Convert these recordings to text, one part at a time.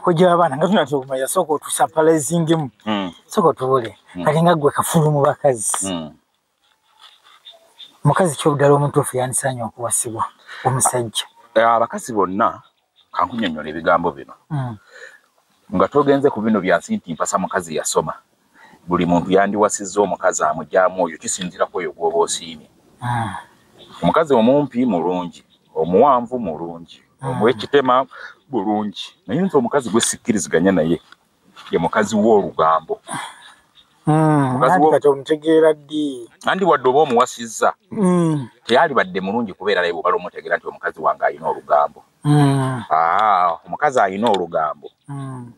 kojja abaana nga tunatera okumanya sooka otusapalezingemu hmm. sooka otubule hmm. kati nga gwe kafulu mu bakazi hmm. mukazi kyobuddala omutuufu yandisaanya okuwasibwa omusajja eh, abakazi bonna kankunyonyola ebigambo bino nga togenze ku bino byansi nti mpasa mukazi yasoma buli muntu yandiwasizza omukazi amugyamu oyo kisinzira kwoyo gwoba osiimye hmm. omukazi omumpi mulungi omuwanvu mulungi hmm. omwekitema bulungi naye nze omukazi gwesikkiriziganya naye ye mukazi w'olugambo hmm. omutegeera ddi andi wadde oba omuwasizza teyalibadde mulungi kubeera naye bwobala omutegeera nti omukazi wange alina olugambo Mm. Ah, omukazi alina olugambo mm.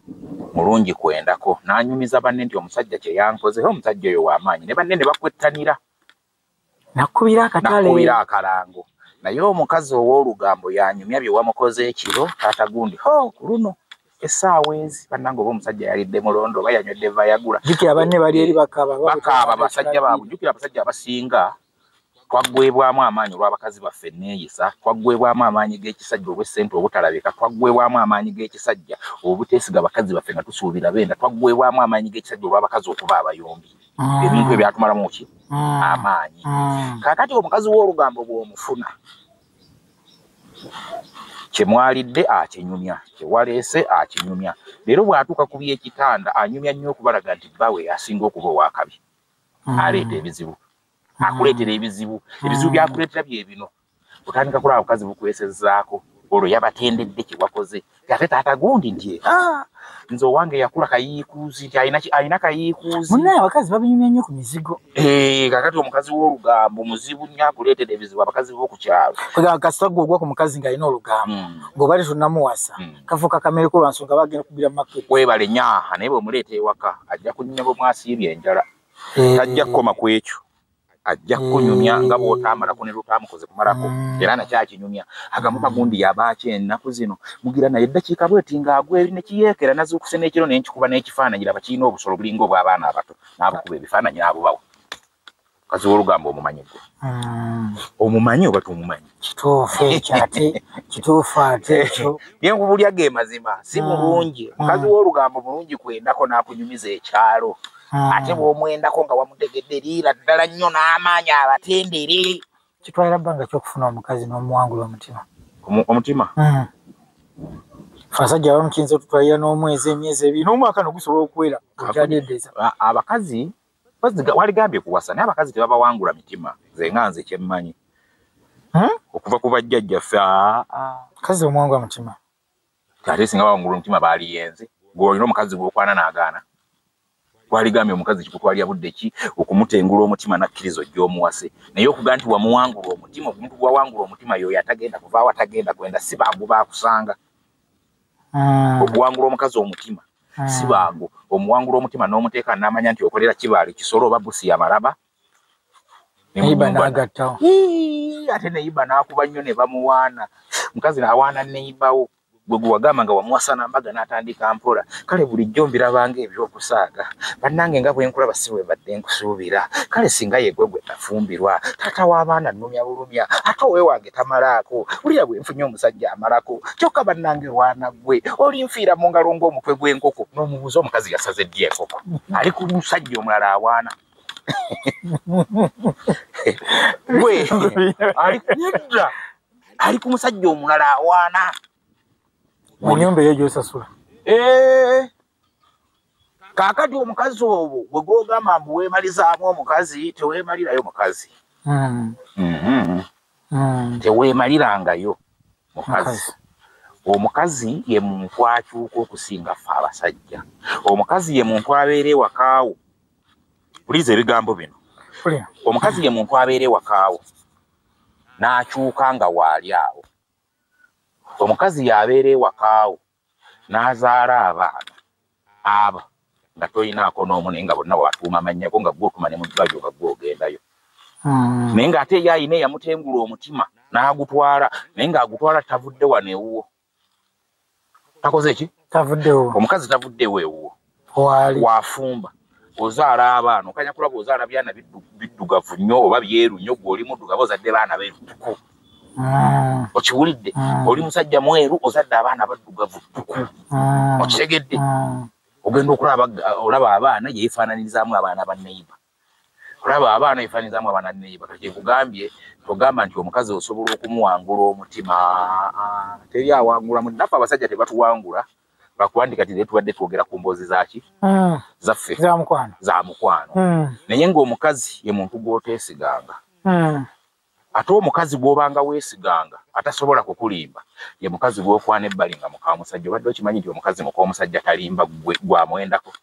mulungi kwendako nanyumiza banne nti omusajja kyeyankoze omusajja oyo wamaanyi ne banne ne bakwettanira nakubira akatalekubira akalango naye omukazi ow'olugambo yanyumya bye wamukoze ekiro taata gundi ho ku luno esaawa ezi banange oba omusajja yalidde mulondo oba yanywedde vayagula jukira banne bali eri bakaaba bakaaba basajja baabwe jukira abasajja abasinga twaggwebwamu amaanyi olw'abakazi baffe enneeyisa twaggwebwamu amaanyi g'ekisajja olw'essente obutalabika twaggwebwamu amaanyi g'ekisajja obuteesiga bakazi baffe nga tusuubira beenda twaggwebwamu amaanyi g'ekisajja olw'abakazi okuba abayombi ah. ebintu ebyatumalamu ki ah. amaanyi ah. kakati omukazi w'olugambo bw'omufuna kyemwalidde akinyumya kyewaleese akinyumya leero bw'atuuka ku by'ekitanda anyumya nnyo okubalaga nti bbawe asinga okuba ow'akabi hmm. aleeta ebizibu hmm. akuleetera ebizibu ebizibu hmm. byakuleetera byebino otandika kulaba bukazi bukwesezaako olwo yabatendedde kyewakoze ate taata gundi nti ah, nze owange yakula kayiikuuzi nti alina kayiikuuzi munaye abakazi babinyumya nnyo ku mizigo eh, kakati omukazi w'olugambo muzibu nnyo akuleetera ebizibu abakazi b'oku kyalo kasita gwe ogwa ku mukazi ng'alina olugambo ng'obali tonamuwasa kafuka kamere ko lwansonga bagenda kubira market webale nyaha naye bwemuleeta ewaka ajja kunyumya bwe mwasiibye enjala eh. tajja kukoma ku ekyo ajja kukunyumya nga mm. bwotaamalako ne lwotaamukoze kumalako mm. era nakyakinyumya agamu kagundi yabaaki ennaku zino mugira naye eddakiika bweti ng'agwa eri ne kiyeekera nazuukuse n'ekiro ne nkikuba n'ekifaananyi laba kirina obusolo bulinga obw'abaana abato n'abukuba ebifaananyi n'abubawo kaziwa olugambo omumanyi gwe mm. omumanyi oba tomumanyi kituufu ekyo ate kituufu ate ekyo byenkubulya ge mazima si mm. mulungi mm. mukazi w'olugambo mulungi kwendako n'akunyumiza ekyalo ate bw'omwendako nga wamutegedde liira ddala nnyo n'amaanyi abatendere kitwala bbanga kyokufuna omukazi n'omuwangula omutima omutima fasajja abamu kiyinza otutwalira n'omwezi emyezi ebiri n'omwaka nogusobola okuwera okyadedeza abakazi waligambye kuwasa naye abakazi tebabawangula mitima nze nga nze kyemmanyi hmm? okuva ku bajjajja ffe ah, ah. kazi omwangwa mutima ate singa bawangula omutima baaliyenze gweolina omukazi gwokwana naagaana waligambye omukazi kikutwalira budde ki okumutengula omutima nakkiriza ojja omuwase naye okuga nti wamuwangula omutima omuntu gwawangula omutima yoyo atagenda kuvaawo atagenda kwenda si bangu bakusanga ah. okuwangula omukazi omutima ah. si bangu omuwangula omutima n'omuteeka n'amanya nti okolera kibaali kisolo oba busi yamalaba ate neyiba n'akuba nnyo ne bamuwaana mukazi awaana neyibawo gwe gwewagamba nga wamuwasa nambaga n'atandika mpola kale bulijjo mbirabanga ebyokusaaga bannange nga bwenkulaba si bwebadde nkusuubira kale singa yegwe gwe tafumbirwa taata w'abaana nnumya bulumya ate owewange tamalaako wulira bwe nfunye omusajja amalako kyokka bannange waana gwe olinfiira mu ngalo ng'omutwe gw'enkoko n'omubuuza omukazi yasaze ddi enkoko ali ku musajja omulala awaana gwe ali nedda ali ku musajja omulala awaana mu nyumba eyo gyosasula eh. kakati omukazi obwo bwe gwogamba mbu weemalizaamu omukazi teweemalirayo mukazi hmm. mm-hmm. hmm. teweemalirangayo mukazi omukazi ye muntu akyuka okusinga ffe abasajja omukazi ye muntu abeera ewakaawo puliza ebigambo bino omukazi ye muntu abeera ewakaawo n'akyuka nga waali awo omukazi y'abeera ewakaawo n'azaala abaana aba nga tolinaako n'omu naye nga bonna watuuma mannya go nga gwotuma ne mu ddwaliro nga gwogendayo hmm. naye ng'ate eyo alina eyamutengula omutima n'agutwala naye ng'agutwala tavudde wano ewuwo takoze ki tavuddewo omukazi tavuddewo ewuwo wafumba ozaala abaana okanya kulaba ozaala byana biddugavu nnyo oba byeru nnyo gwe oli muddugavu ozadde baana berutuku mm. okiwulidde mm. oli musajja mweru ozadde abaana baddugavu tuku mm. okitegedde ogenda okulaba olaba abaana yeefaananirizaamu abaana ba neiba olaba abaana ebifanyizamu abaana neiba kati kyekugambye togamba nti omukazi osobola okumuwangula omutima ah, teri awangula munafe abasajja tebatuwangula bakuwandika ti tubadde twogera ku mboozi zaki hmm. zaffe za mukwano hmm. naye ngaomukazi ye muntu gwoteesiganga hmm. ate omukazi gwobanga wesiganga atasobola kukulimba ye mukazi gwokwana ebbali nga mukamusajja obadde okimanyi nti omukazi mukomusajja talimba gwamwendako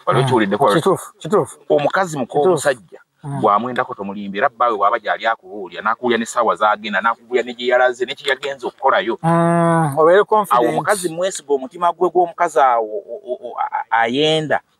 wali okiwuliddeko hmm. omukazi mukomusajja hmm. gwamwendako tomulimba era bbaawe bwaba gyali akubuulira nakuwulira nesaawa zagenda nakubuulira negyeyalaze nekyeyagenza okukolayo hmm, awo omukazi mwesiga omutima gwe gwomukazi awo ayenda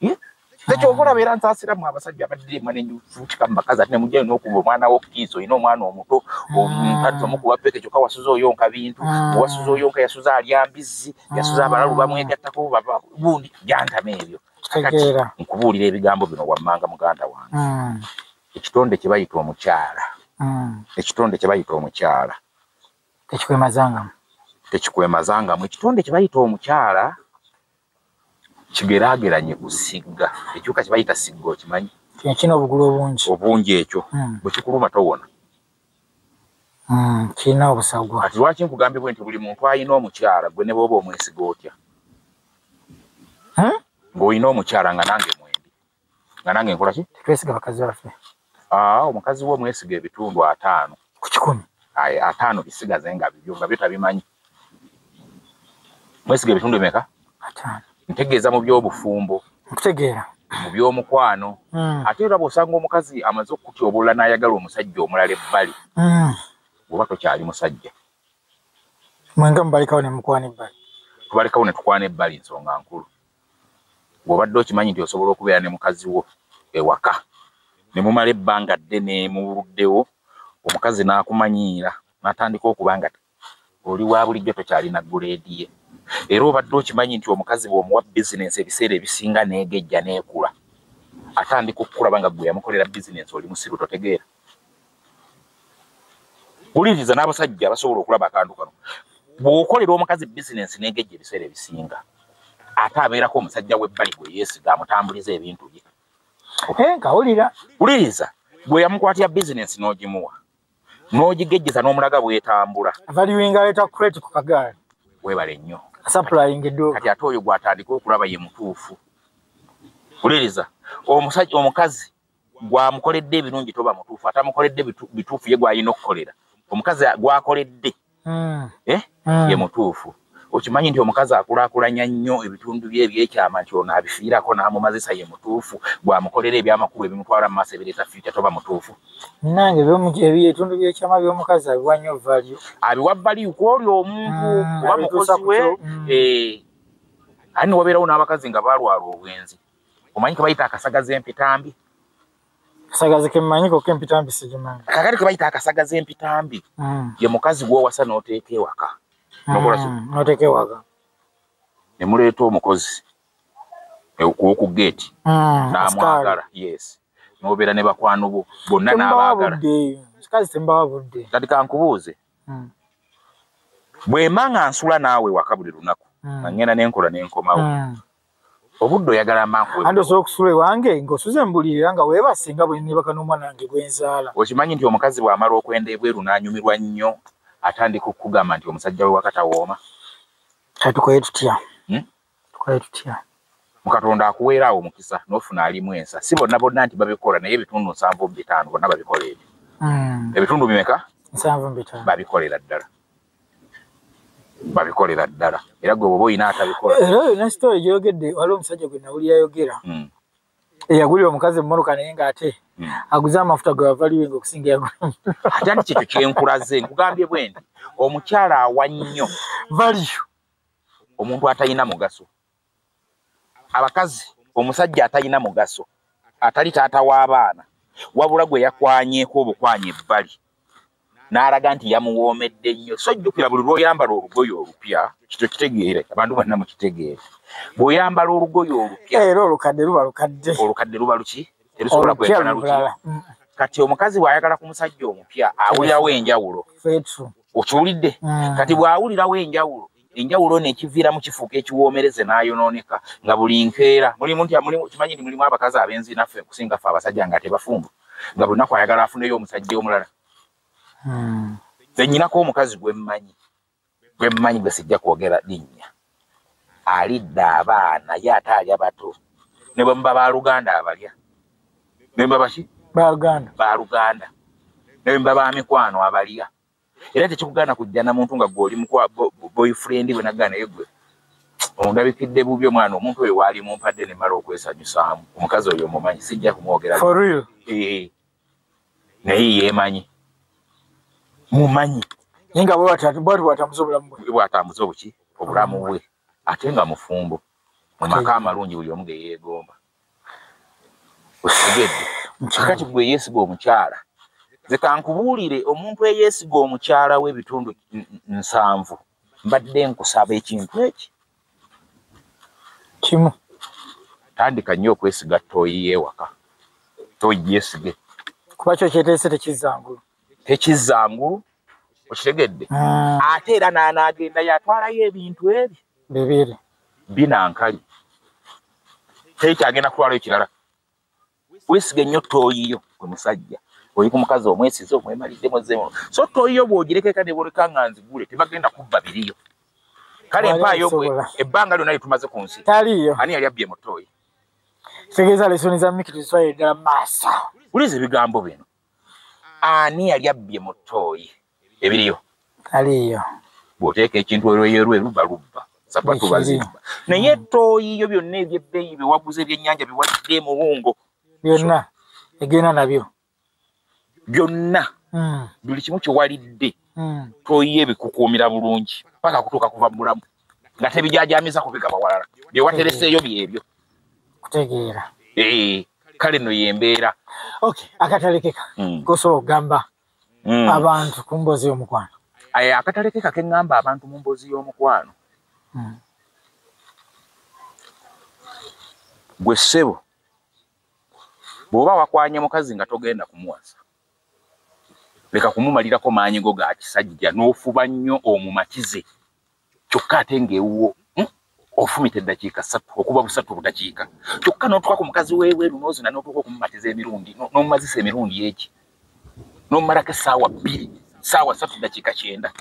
hmm? nekyoka olaba era nsasiramu abasajja abaddiremwa nenjufutika mu bakazi ati nemujjayo nokuba omwana wokukiisa olina omwana omuto omukazi omukuba peke kyoka wasuza oyonka bintu wasuza oyonka yasuza alya mbizzi yasuza abalalu bamwegattako bundi jantama ebyo kakati nkubuulira ebigambo bino wammanga muganda wange hmm. ekitonde kyebayita omukyala hmm. ekitonde kyebayita omukyala tekikwemazangamu tekikwemazangamu ekitonde kyebayita omukyala kigerageranye ku sigga ekiwuka kye bayita sigga okimanyi kino obugulu obungi obungi ekyo hmm. bwe kikuluma towona hmm, kirina obusagwa kati lwaki nkugambye bwe nti buli muntu alina omukyala gwe ne booba omwesiga otya hmm? ng'olina omukyala nga nange mwendi nga nange nkola ki twesiga bakazi baffe ah, omukazi wo mwesiga ebitundu ataano ku kikumi ataano bisigaze nga bibyo nga byo tabimanyi mwesiga ebitundu emeka ntegeeza mu byobufumbo nkutegeera mu byomukwano hmm. ate era bwosanga omukazi amaze okutyobolola n'ayagala omusajja omulala ebbali hmm. oba tokyali musajja mwenga mubalekawo ne mukwana ebbali tubalekawo ne tukwana ebbali nsonga nkulu ng'obadde okimanyi nti osobola okubeera ne mukazi wo ewaka ne mumala ebbanga ddene mu buddewo omukazi n'akumanyiira n'atandika okuba nga oli wa bulijjo tokyalina guleedi ye era obadde okimanyi nti omukazi bw'omuwa bizinensi ebiseera ebisinga n'egejja n'ekula atandika okukulaba nga gwe yamukolera bizinensi oli musiru totegeera wuliriza n'abasajja basobola okulaba akantu kano bw'okolera omukazi bizinensi n'egejja ebiseera ebisinga ate abeerako omusajja w'ebbali gwe yeesiga amutambuliza ebintu bye enka wulira wuliriza gwe yamukwatira bizinensi n'ogimuwa n'ogigejjeza n'omulaga bwetambula valuing aleeta crate ku kagaali weebale nnyo supplying edo kati ate oyo gw'atandika okulaba ye mutuufu wuliriza omusajja omukazi gwamukoledde ebirungi toba mutuufu atamukoledde bituufu ye gwalina okukolera omukazi gwakoledde hmm. eh? hmm. ye mutuufu okimanyi nti omukazi akulakulanya nnyo ebitundu bye ebyekyama nti ono abifiirako n'amumazisa ye mutuufu gwamukolera ebyamakulu ebimutwala mu maaso ebireeta fiita toba mutuufu nange ebitundu byekyama by'omukazi abiwa nnyo valio abiwa valio kwoli omuntu hmm, oba mukozi we eh, ani wabeerawo n'abakazi nga balwala obwenzi omanyi kebayita akasagaza empitambi kasagazi kemanyiko kempitambi sigimanyi kakati kebayita akasagaza empitambi mm. ye mukazi gwowasa noteeka ewaka mm, noteeka ewaka ne muleeta omukozi e, woku geeti mm, namwagala yes nobeera ne bakwano bo bonna nabaagala kikazi tembawa budde kati kankubuuze mm. bwemba nga nsula naawe waka buli lunaku mm. nga ngenda nenkola nenkomawo mm. obudde oyagala amankuwe andi osobola okusula ewange ng'osuze mbulirira nga weebase nga bwe nebaka n'omwana wange gwe nzaala okimanyi nti omukazi bw'amala okwenda ebweru n'anyumirwa nnyo atandika okukugamba nti omusajja we wakatawooma kati tukoye tutya hmm? tukoye tutya mukatonda akuweera awo omukisa n'ofuna alimu ensa si bonna bonna nti babikola naye ebitundu nsanvu mu bitaano bonna babikola ebyo hmm. ebitundu bimeka nsanvu mu bitaano babikolera ddala babikolera ddala era gwe bwoba olina atabikola era olina sitore gyeyogedde waliwo omusajja gwe nawuli yayogera hmm. eyagulira omukazi emmotoka naye ngaate hmm. aguze amafuta gwe wavaliwenga okusinga yagulati kyekyo kyenkulaze nkugambye bwendi omukyala awa nnyo valiyo omuntu atalina mugaso abakazi omusajja atalina mugaso atali taata w'abaana wabula gwe yakwanyeko obukwanya ebbali n'alaga nti yamuwoomedde nnyo so jjukira buli lwoyambala olugoye olupya kito kitegeere abantu banna mukitegeere bweoyambala olugoye olupya era olukadde luba lukadde olukadde luba luki terusobola kwekana luki mm. kati omukazi bw'ayagala ku musajja omupya awulirawo enjawulo okiwulidde mm. kati bw'awulirawo enjawulo enjawulo ono ekiviiramu kifuuka ekiwoomereze n'ayonooneka nga buli nkeera mulimu nti kimanyi nti mulimu abakazi abenzi naffe okusinga ffe abasajja nga tebafumbu nga bunaku ayagala afuneyo omusajja omulala hmm. zenyinako omukazi gwemmanyi gwemmanyi gwe sijja kwogera linnya alidde abaana ye ate alya bato ne bwe muba baluganda abalya nemba baki baluganda baluganda nemba bamikwano abalya era tekikugaana kujja na muntu nga gwoli mukwa boyfriend bwe naggaa naye gwe ondabikidde bubi omwana omuntu oyo waali mumpadde ne mala okwesanyusaamu omukazi oyo omumanyi sijja kumwogera eh, naye yemanyi mumanyi naye nga bwatambuza obulamu bwe bwatambuza obuki obulamu bwe ate nga mufumbo mu maka amalungi buli omu ge yeegomba otegedde kati gwe yeesiga omukyala nze kankubuulire omuntu eyeesiga omukyala w'ebitundu nsanvu mbadde nkusaba ekintu eki kimu tandika nnyo okwesiga tooyi y'ewaka tooyi yeesige kuba kyo kyeteese tekizzangulu tekizzangulu okitegedde ah. ate era n'anaagenda yatwalayo ebintu ebyo bibiri binankali tekyagenda kutwalayo kirala wesiga ennyo tooyiyo gwe musajja oli ku mukazi omwesize omwemalidde muzemu so tooyiyo bw'ogirekeka ne bwoleka nga nzigule tebagenda kubba biriyo kale empaayo gwe ebbanga lyonna lyetumaze ku nsi taliyo ani yali abbye mutooyi kitegeeza lesoni za miki tuzitwalire ddala maaso uliza ebigambo bino ani yali abbye mu tooyi ebiriyo aliyo bw'oteeka ekintu olweyorwe luba lubba sapatu bazimba naye tooyi yo byonna ebyebbeeyi byewaguza ebyennyanja biwadde muwungo byonna egenda nabyo byonna hmm. buli kimu kyewalidde hmm. tooyi ebikukuumira bulungi paka kutuuka kuva mu bulamu nga tebijajamiza kubigaba walala byewatereseeyo byebyo kutegeera eh, kale no yembeera ok akatalekeka mm. kosobola okugamba mm. abantu ku mboozi y'omukwano eh, akatalekeka keŋŋamba abantu mu mboozi y'omukwano mm. gwe ssebo bw'oba wakwanye mukazi nga togenda kumuwasa leka kumumalirako maanyi go ga kisajja n'ofuba nnyo omumatize kyokka ate ng'ewuwo hmm, ofumita eddakiika satu okuba busatu obudakiika kyokka n'otuka ku mukazi w'ebweru n'ozina n'otuuka okumumatiza emirundi n'omumazisa emirundi eki n'omumalako essaawa bbiri sawa satu dakika kyenda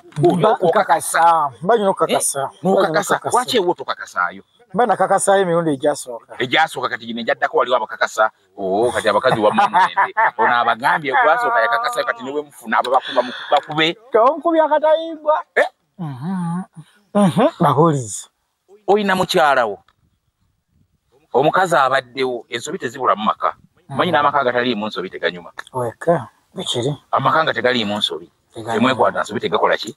okakasa banyina okukakasa eh, nokakasa lwaki ewo tokakasayo bana kakasayo emirundi egyasooka egyasooka kati gino egyaddako waliwo abakakasa o oh, kati abakazi wamuende ono abagambye gwasooka yakakasayo kati newemufuna abo bakube kawonkubi akatayimbwa eh? babulizi olina mukyalawo omukazi abaddewo ensobi tezibulamu maka manyi n'amaka agataliimu nsobi teganyuma weka ekiri amaka nga tegaliimu nsobi temwekwata nsobi tegakola ki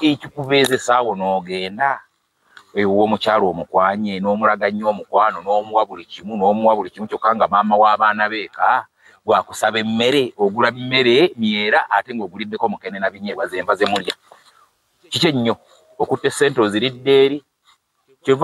ekikubeeza esaawo n'ogenda ewuwo omukyalo omukwanye n'omulaga nnyo omukwano n'omuwa buli kimu n'omuwa buli kimu kyokka nga maama w'abaana beeka gwakusaba emmere ogula mmere myera ate ng'oguliddeko mukene na binyeebwa zenva ze mulya kiki ennyo okutta essente oziridde eri kyova